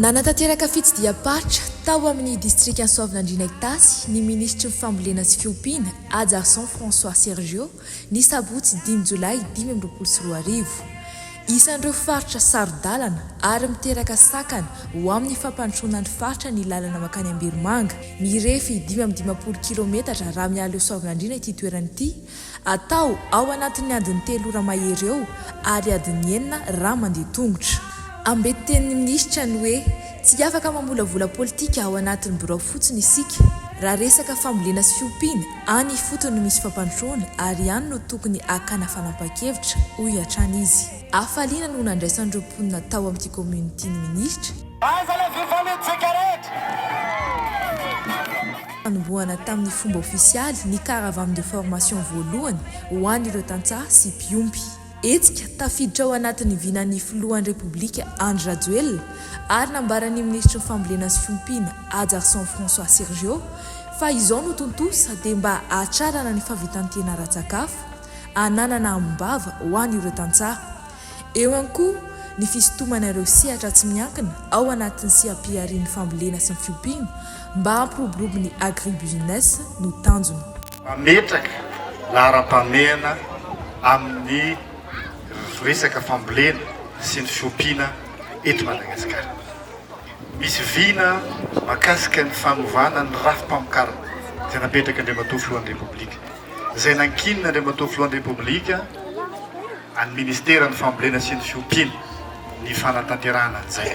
Nanatanteraka fitsidiham-paritra tao amin'ny distrikan'i Soavinandriana Itasy ny minisitry ny Fambolena sy fiompiana, Hajarison François Sergio, ny sabotsy dimy jolay dimy amby roapolo sy roa arivo. Isan'ireo faritra saro-dalana ary miteraka sakana ho amin'ny fampandrosoana ny faritra ny lalana mankany Ambirimanga, mirefy dimy amby dimampolo kilaometatra raha miala eo Soavinandriana ity toerana ity, atao ao anatin'ny adiny telo ora mahery eo ary adiny enina raha mandeha tongotra. Ambitin' ny minisitra ny hoe tsy afaka mamolavola politika ao anatin'ny birao fotsiny isika raha resaka fambolena sy fiompiana Any ifotony no misy fampandrosoana ary any no tokony hakana fanapahan-kevitra, hoy hatrany izy. Hafaliana no nandraisan'ireo mponina tao amin'ity kaominina ity ny minisitra. Aiza le fifanitsika rehetra? Nanombohana tamin'ny fomba ofisialy ny Caravane de formation voalohany ho an'ireo tantsaha sy mpiompy. Hetsika tafiditra ao anatin'ny vinan'ny filohan'ny Repoblika Andry Rajoelina ary nambaran'ny minisitry ny Fambolena sy Fiompiana Ajarson François Sergio fa izao no tontosa dia mba hahatrarana ny fahavitan-tena ara-tsakafo ananana ambom-bava ho an'ireo tantsaha. Eo ihany koa ny fisintomana ireo sehatra tsy miankina ao anatin'ny seha-piharian'ny Fambolena sy ny Fiompiana mba hampiroborobo ny agribusiness no tanjona. Mametraka laharam-pahamehana amin'ny resaka fambolena sy ny fiompiana eto Madagasikara. Misy vina mahakasika ny fanovana ny rafi-pamokarana izay napetraky Andriamatoa Filohan'ny Repoblika, izay nankinina Andriamatoa Filohan'ny Repoblika an'ny Ministeran'ny Fambolena sy ny Fiompiana ny fanatanterahana an'izay.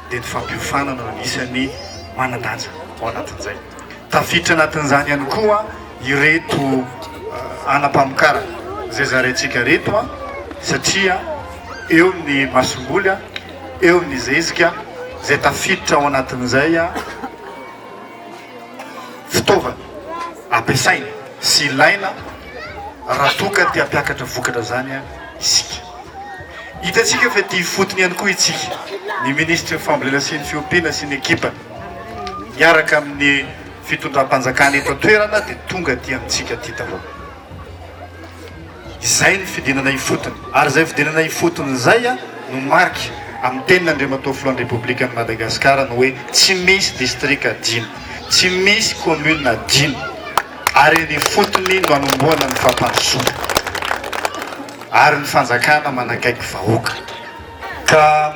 dia ny fampiofana no anisan'ny manan-danja ao anatin'izay. Tafiditra anatin'izany ihany koa ireto anam-pamokarana izay zaraintsika ireto satria eo ny masomboly, eo ny zezika izay tafiditra ao anatin'izay fitaovana ampiasaina sy ilaina raha toa ka te hampiakatra vokatra izany isika. Hitantsika fa tia ifotony ihany koa itsika, ny minisitry ny fambolena sy ny fiompiana sy ny ekipany, miaraka amin'ny fitondram-panjakana eto an-toerana dia tonga aty amintsika aty daholo. Izay ny fidinana ifotony, ary izay fidinana ifotony izay no mariky amin'ny tenin' Andriamatoa Filohan'ny Repoblikan'i Madagasikara ny hoe tsy misy distrika adino, tsy misy commune adino, ary eny ifotony no anombohana ny fampandrosoana. Ary ny fanjakana manakaiky vahoaka. Ka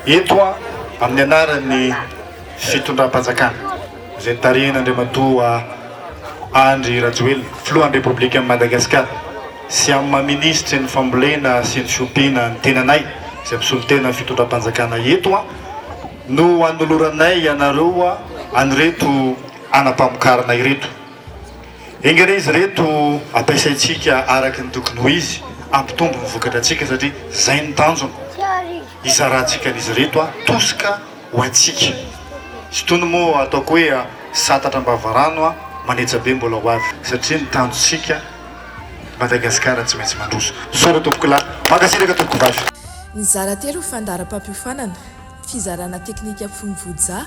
eto aho amin'ny anaran'ny fitondram-panjakana izay tarihin'Andriamatoa Andry Rajoelina, Filohan'ny Repoblikan'i Madagasikara, sy amin'ny maha Minisitry ny Fambolena sy ny Fiompiana ny tenanay izay mpisolo tena ny fitondram-panjakana eto aho no anoloranay ianareo an'ireto anam-pamokarana ireto. Enga re izy ireto ampiasaintsika araka ny tokony ho izy, hampitombo ny vokatra antsika satria izay ny tanjona hizarantsika an'izy ireto a tosika ho antsika. Izy itony moa ataoko hoe satatra am-bavarano a, manetsa be mbola ho avy satria ny tanjontsika Madagasikara tsy maintsy mandroso. Misaotra tompoko lahy. Mankasitraka tompoko vavy. Nizara telo fandaharam-pampiofanana, fizarana teknika fono voja,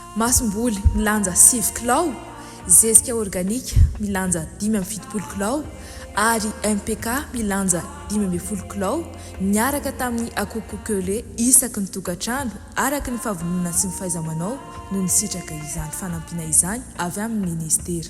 Masomboly milanja sivy kilao, zezika organika milanja dimy amby fitopolo kilao ary MPK milanja dimy ambin'ny folo kilao niaraka tamin'ny akoho coquelet isaky ny tokantrano araka ny fahavononana sy ny fahaiza-manao no nisitraka izany fanampiana izany avy amin'ny Minisitera